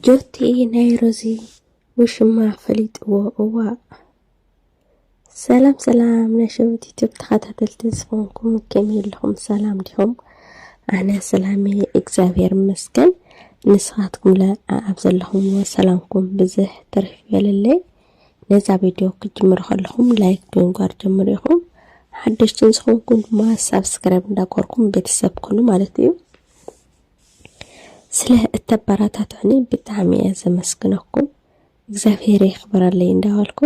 ጆቲ ናይ ሮዚ ውሽማ ፈሊጥዎ እዋእ። ሰላም ሰላም ናይ ሸዊት ዩቲብ ተኸታተልቲ ዝኾንኩም ከመይ ኣለኹም? ሰላም ዲኹም? ኣነ ሰላም እየ እግዚኣብሔር ይመስገን። ንስኻትኩም ለ ኣብ ዘለኹምዎ ሰላምኩም ብዝሕ ትርፍ ይበለለይ። ነዛ ቪድዮ ክትጅምሩ ከለኹም ላይክ ብምግባር ጀምሩ ኢኹም። ሓደሽትን ዝኾንኩም ድማ ሳብስክራይብ እንዳገበርኩም ቤተሰብ ኩኑ ማለት እዩ። ስለ እተበራታትዑኒ ብጣዕሚ እየ ዘመስግነኩም እግዚኣብሔር የኽብረለይ እንዳበልኩ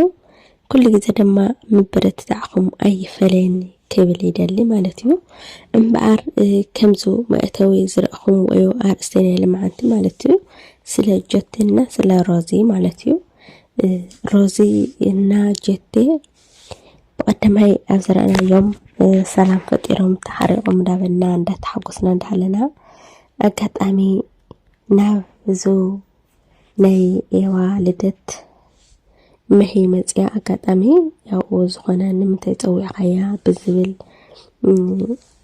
ኩሉ ግዜ ድማ ምብርትታዕኹም ኣይፈለየኒ ክብል ይደሊ ማለት እዩ እምበኣር ከምዚ መእተዊ ዝረእኹም ወይ ኣርእስቲ ናይ ልምዓንቲ ማለት እዩ ስለ ጀቴና ስለ ሮዚ ማለት እዩ ሮዚ እና ጀቴ ብቐዳማይ ኣብ ዝረኣናዮም ሰላም ፈጢሮም ተሓሪቖም እንዳበልና እንዳተሓጎስና እንዳሃለና ኣጋጣሚ ናብ እዙ ናይ ኤዋ ልደት መሄ መፅያ ኣጋጣሚ ያው ዝኾነ ንምንታይ ፀዊዕኻያ ብዝብል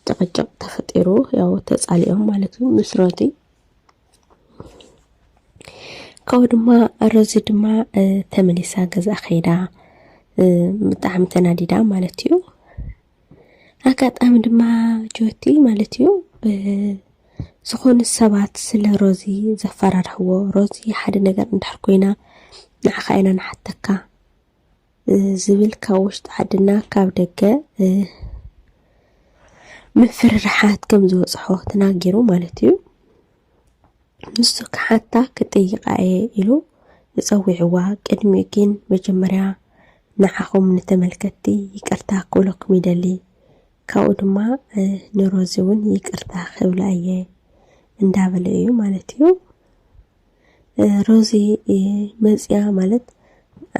ጭቕጭቕ ተፈጢሩ ያው ተፃሊኦም ማለት እዩ ምስ ሮዚ ካብኡ ድማ ሮዚ ድማ ተመሊሳ ገዛ ከይዳ ብጣዕሚ ተናዲዳ ማለት እዩ ኣጋጣሚ ድማ ጆቲ ማለት እዩ ዝኾኑ ሰባት ስለ ሮዚ ዘፈራርሕዎ ሮዚ ሓደ ነገር እንድሕር ኮይና ንዓኻ ኢና ንሓተካ ዝብል ካብ ውሽጢ ዓድና ካብ ደገ ምፍርራሓት ከም ዝበፅሖ ተናጊሩ ማለት እዩ ንሱ ክሓታ ክጥይቃ እየ ኢሉ ንፀዊዕዋ ቅድሚ ግን መጀመርያ ንዓኹም ንተመልከትቲ ይቅርታ ክብለኩም ይደሊ ካብኡ ድማ ንሮዚ እውን ይቅርታ ክብላ እየ እንዳበለ እዩ ማለት እዩ ሮዚ መፅያ ማለት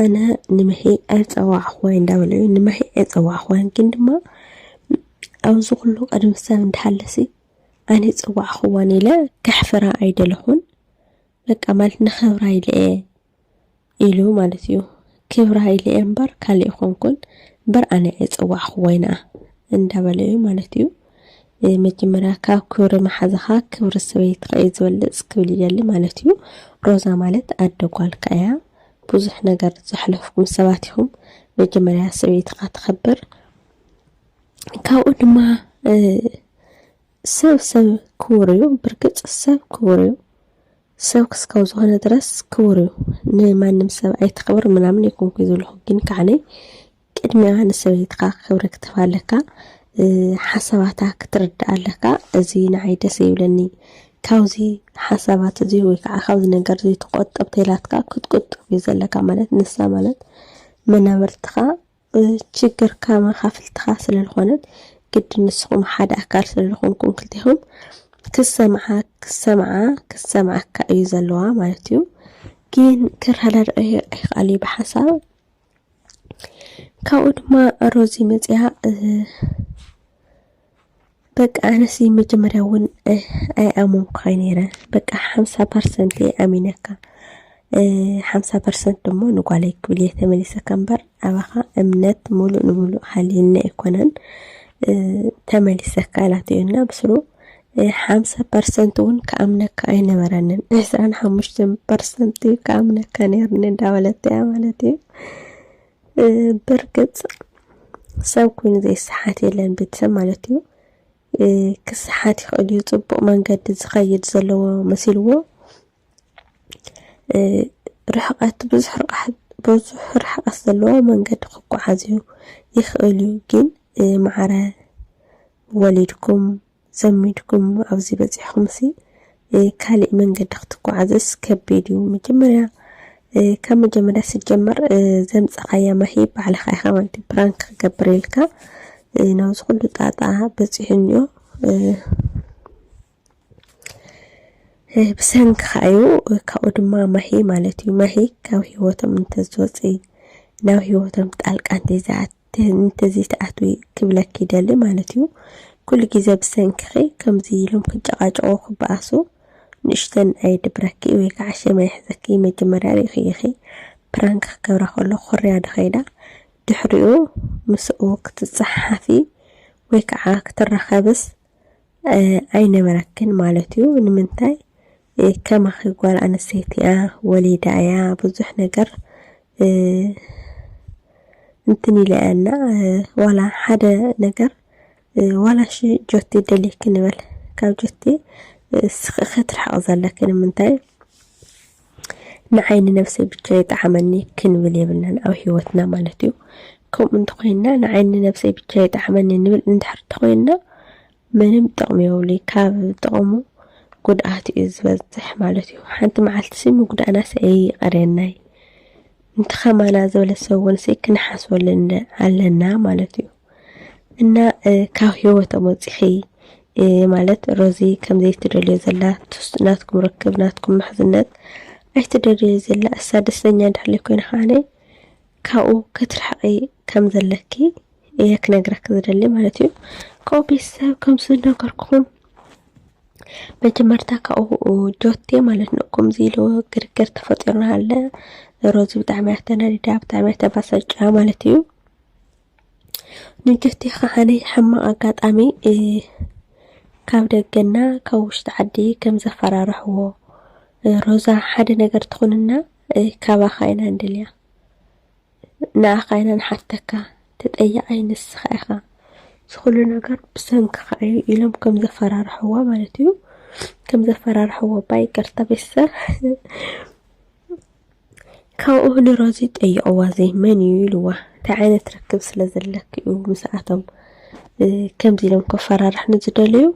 ኣነ ንመሒ ኣይፀዋዕኹዋይ እንዳበለ እዩ ንመሒ ኣይፀዋዕኹዋይን ግን ድማ ኣብዚ ኩሉ ቅድሚ ሰብ እንዳሃለሲ ኣነ ይፀዋዕኹዋን ኢለ ከሕፍራ ኣይደለኹን በቃ ማለት ንኽብራ ኢለ እየ ኢሉ ማለት እዩ ክብራ ኢለ እየ እምበር ካልእ ኣይኮንኩን እምበር ኣነ እየ ዝጸዋዕክዎ ይንኣ እንዳበለ እዩ ማለት እዩ መጀመርያ ካብ ክብሪ መሓዝኻ ክብሪ ሰበይትኻ እዩ ዝበልጽ ክብል ይደሊ ማለት እዩ ሮዛ ማለት ኣደ ጓልካ እያ ብዙሕ ነገር ዘሕለፍኩም ሰባት ኢኹም መጀመርያ ሰበይትኻ ተኸብር ካብኡ ድማ ሰብ ሰብ ክቡር እዩ ብርግጽ ሰብ ክቡር እዩ ሰብ ክስካብ ዝኾነ ድረስ ክቡር እዩ ንማንም ሰብ ኣይተኽብር ምናምን ኣይኮንኩይ ዘለኹ ግን ከዓነይ ቅድሚያ ንሰበይትኻ ክብሪ ክትህባ ኣለካ ሓሳባታ ክትርዳእ ኣለካ እዚ ንዓይ ደስ ይብለኒ ካብዚ ሓሳባት እዚ ወይ ከዓ ካብዚ ነገር እዚ ትቆጠብ ተላትካ ክትቁጥብ እዩ ዘለካ ማለት ንሳ ማለት መናብርትኻ ችግርካ መኻፍልትኻ ስለልኾነት ግድን ንስኹም ሓደ ኣካል ስለልኾንኩም ክልቴኹም ክሰምዓ ክሰምዓ ክሰምዓካ እዩ ዘለዋ ማለት እዩ ግን ክረዳድኦ ኣይክኣል እዩ ብሓሳብ ካብኡ ድማ ሮዚ መፅያ በቃ ኣነሲ መጀመርያ እውን ኣይኣመንኩካ ነይረ በቃ ሓምሳ ፐርሰንት እየ ኣሚነካ ሓምሳ ፐርሰንት ድማ ንጓለይ ክብል እየ ተመሊሰካ እምበር ኣባኻ እምነት ሙሉእ ንሙሉእ ሃልዩኒ ኣይኮነን ተመሊሰካ ኢላቶ እዩና ብስሩ ሓምሳ ፐርሰንት እውን ክኣምነካ ኣይነበረንን ዕስራን ሓሙሽተን ፐርሰንት እዩ ክኣምነካ ነይርኒ እንዳበለት እያ ማለት እዩ ብርግጽ ሰብ ኮይኑ ዘይሰሓት የለን ቤተሰብ ማለት እዩ ክሰሓት ይኽእል እዩ ጽቡቕ መንገዲ ዝኸይድ ዘለዎ መሲልዎ ርሕቐት ብዙሕ ርሕቐት ብዙሕ ርሕቐት ዘለዎ መንገዲ ክጓዓዝ እዩ ይኽእል እዩ ግን ማዕረ ወሊድኩም ዘሚድኩም ኣብዚ በጺሕኩምሲ ካሊእ መንገዲ ክትጓዓዝስ ከቢድ እዩ መጀመርያ ካብ መጀመርያ ስጀመር ዘምጸኻያ ማሂ ባዕልኻ ኢኻ ማለት ፕራንክ ክገብር ኢልካ ናብዚ ኩሉ ጣጣ በጺሑኒዮ ብሰንክኻ እዩ ካብኡ ድማ ማሂ ማለት እዩ ማሂ ካብ ሂወቶም እንተዝወፅእ ናብ ሂወቶም ጣልቃ እንተይዝኣት ትህንትዚ ትኣትዊ ክብለኪ ይደሊ ማለት እዩ ኩሉ ግዜ ብሰንክኺ ከምዚ ኢሎም ክጨቃጨቁ ክበኣሱ ንእሽተን ኣይድብረኪ ወይ ከዓ ሸም ኣይሕዘኪ መጀመርያ ሪኢኺ ኢኺ ፕራንክ ክገብራ ከሎ ኮርያ ዶ ከይዳ ድሕሪኡ ምስኡ ክትፀሓሓፊ ወይ ከዓ ክትራኸብስ ኣይነበረክን ማለት እዩ ንምንታይ ከማኺ ጓል ኣንስተይቲ እያ ወሊዳ እያ ብዙሕ ነገር እንትን ኢለ እያ እና ዋላ ሓደ ነገር ዋላ ሺ ጆቲ ደልየኪ ንበል ካብ ጆቲ ክትርሕቕ ዘለኪ ንምንታይ ንዓይ ንነብሰይ ብቻ ይጥዓመኒ ክንብል የብልናን ኣብ ሂወትና ማለት እዩ ከምኡ እንተኾይንና ንዓይ ንነብሰይ ብቻ ይጥዓመኒ ንብል እንድሕር እንተኾይንና ምንም ጥቕሚ የብሉይ ካብ ጥቕሙ ጉድኣት እዩ ዝበዝሕ ማለት እዩ ሓንቲ መዓልትሲ ምጉዳእናስ ኣይቐርየናይ እንተኸማና ዝበለ ሰውንሲ ክንሓስበሉ ኣለና ማለት እዩ እና ካብ ህይወቶም ወፂኺ ማለት ሮዚ ከምዘይ ትደልዮ ዘላ ትስ ናትኩም ርክብ ናትኩም ምሕዝነት ኣይትደልዮ ዘላ እሳ ደስተኛ እንድሕለይ ኮይነ ከዓነ ካብኡ ከትርሕቂ ከም ዘለኪ እየ ክነግረኪ ዝደሊ ማለት እዩ ከኡ ቤተሰብ ከምዚ ነገርኩም መጀመርታ ካብኡ ጆቴ ማለት ነው ከምዚ ኢሉ ግርግር ተፈጢሩና ኣለ ሮዚ ብጣዕሚ ኣተናዲዳ ብጣዕሚ ተባሰጫ ማለት እዩ ንድሕቲ ከዓነ ሕማቕ ኣጋጣሚ ካብ ደገና ካብ ውሽጢ ዓዲ ከም ዘፈራርሕዎ ሮዛ ሓደ ነገር ትኹንና ካባኻ ኢና ንደልያ ንኣኻ ኢና ንሓተካ ተጠያቓይ ንስኻ ኢኻ ዝኹሉ ነገር ብሰንክኻ እዩ ኢሎም ከም ዘፈራርሕዎ ማለት እዩ ከም ዘፈራርሕዎ ባ ይቅርታ ቤተሰብ ካብኡ ንሮዚ ጠይቕዋ ዘይ መን እዩ ኢልዋ እንታይ ዓይነት ርክብ ስለ ዘለኪ እዩ ምስኣቶም ከምዚ ኢሎም ከፈራርሕኒ ዝደለዩ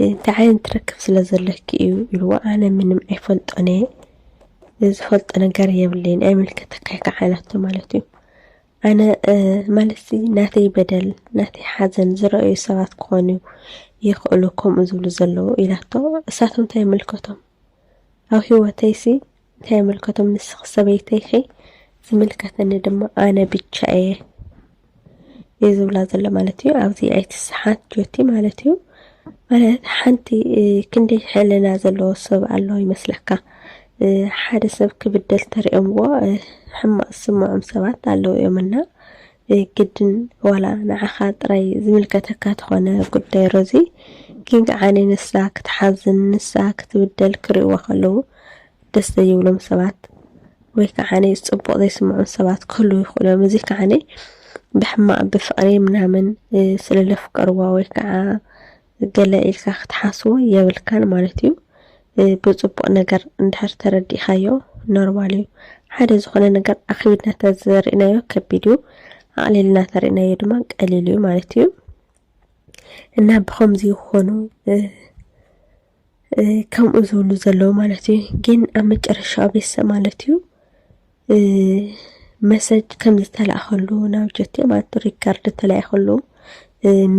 እንታይ ዓይነት ርክብ ስለ ዘለኪ እዩ ኢልዋ ኣነ ምንም ኣይፈልጦን እየ ዝፈልጦ ነገር የብለይን ኣይምልከተካይ ከዓ ኢላቶ ማለት እዩ ኣነ ማለት ናተይ በደል ናተይ ሓዘን ዝረኣዩ ሰባት ክኾኑ ይኽእሉ ከምኡ ዝብሉ ዘለዉ ኢላቶ እሳቶም እንታይ ይምልከቶም ኣብ ሂወተይሲ እንታይ ይምልከቶም ንስኺ ሰበይተይ ኢኺ ዝምልከተኒ ድማ ኣነ ብቻ እየ እዩ ዝብላ ዘሎ ማለት እዩ ኣብዚ ኣይትስሓት ጆቲ ማለት እዩ ማለት ሓንቲ ክንደይ ሕልና ዘለዎ ሰብ ኣሎ ይመስለካ ሓደ ሰብ ክብደል ተሪኦምዎ ሕማቅ ዝስምዖም ሰባት ኣለዉ እዮም እና ግድን ዋላ ንዓኻ ጥራይ ዝምልከተካ ተኾነ ጉዳይ ሮዚ ግን ከዓኒ ንሳ ክትሓዝን ንሳ ክትብደል ክርእይዋ ከለዉ ደስ ዘይብሎም ሰባት ወይ ከዓኒ ጽቡቕ ዘይስምዖም ሰባት ክህልዉ ይኽእሉ እዮም። እዚ ከዓኒ ብሕማቕ ብፍቕሪ ምናምን ስለ ዘፍቀርዋ ወይ ከዓ ገለ ኢልካ ክትሓስቦ የብልካን ማለት እዩ። ብጽቡቅ ነገር እንድሕር ተረዲእካዮ ኖርማል እዩ። ሓደ ዝኾነ ነገር ኣኽቢድና ተዘሪእናዮ ከቢድ እዩ፣ ኣቕሊልና ተሪእናዮ ድማ ቀሊል እዩ ማለት እዩ እና ብኸምዚ ይኾኑ ከምኡ ዝብሉ ዘለዉ ማለት እዩ። ግን ኣብ መጨረሻ ቤሰ ማለት እዩ መሰጅ ከም ዝተላእኸሉ ናብ ጀቴ ማለት ሪከርድ ተላኢኸሉ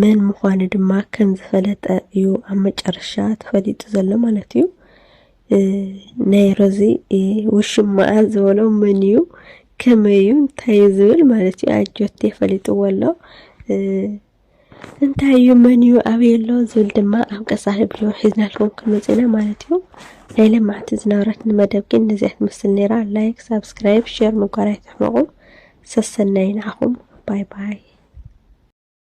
መን ምዃኑ ድማ ከም ዝፈለጠ እዩ ኣብ መጨረሻ ተፈሊጡ ዘሎ ማለት እዩ ናይ ሮዚ ውሽማኣ ዝበሎ መን እዩ ከመይ እዩ እንታይ እዩ ዝብል ማለት እዩ ኣጆቴ ፈሊጥዎ ኣሎ እንታይ እዩ መን እዩ ኣበይ ኣሎ ዝብል ድማ ኣብ ቀፃሊ ቪድዮ ሒዝናልኩም ክንመፅእ ኢና ማለት እዩ ናይ ለማዕቲ ዝነበረትኒ መደብ ግን ነዚኣ ትመስል ነይራ ላይክ ሳብስክራይብ ሼር ምጓር ኣይትሕመቑ ሰሰናይ ንዓኹም ባይ ባይ